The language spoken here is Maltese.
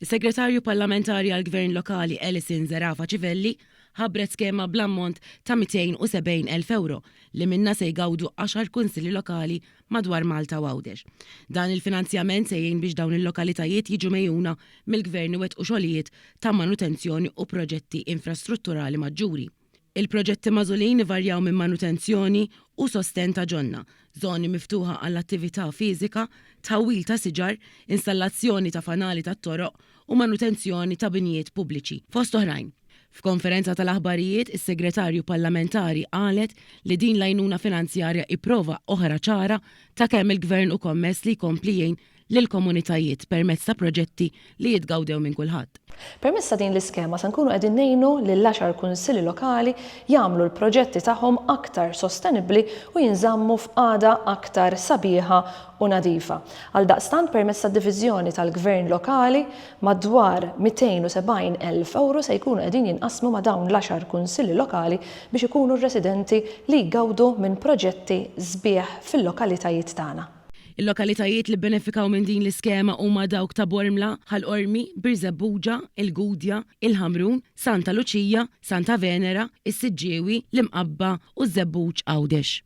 Is-Segretarju Parlamentari għall-Gvern Lokali Alison Zerafa Civelli ħabbret skema bl-ammont ta' 270 elf ewro li minnha se jgawdu għaxar Kunsilli Lokali madwar Malta u Għawdex. Dan il-finanzjament se jgħin biex dawn il-lokalitajiet jiġu megħjuna mill-Gvern iwettqu xogħlijiet ta' manutenzjoni u proġetti infrastrutturali maġġuri. Il-proġetti magħżulin ivarjaw minn manutenzjoni u sostenn ta' ġonna, żoni miftuħa għall-attività fiżika, tħawwil ta' siġar, installazzjoni ta' fanali tat-toroq u manutenzjoni ta' binjiet pubbliċi, fost oħrajn. F'konferenza tal-aħbarijiet, is-Segretarju Parlamentari qalet li din l-għajnuna finanzjarja hi prova oħra ċara ta' kemm il-Gvern hu kommess li jkompli jgħin lill-komunitajiet permezz ta' proġetti li jitgawdew minn kulħadd. Permezz ta' din l-iskema se nkunu qegħdin ngħinu lill-għaxar kunsilli lokali jagħmlu l-proġetti tagħhom aktar sostenibbli u jinżammu f'qagħda aktar sabiħa u nadifa. Għaldaqstant permezz tad-diviżjoni tal-gvern lokali, madwar 270 elf ewro se jkunu qegħdin jinqasmu ma' dawn l-għaxar kunsilli lokali biex ikunu r-residenti li jgawdu minn proġetti sbieħ fil-lokalitajiet tagħna. Il-lokalitajiet li bbenefikaw minn din l-iskema huma dawk ta' Bormla, Ħal Qormi, Birżebbuġa, il-Gudja, il-Ħamrun, Santa Luċija, Santa Venera, is-Siġġiewi, l-Imqabba u ż-Żebbuġ Għawdex.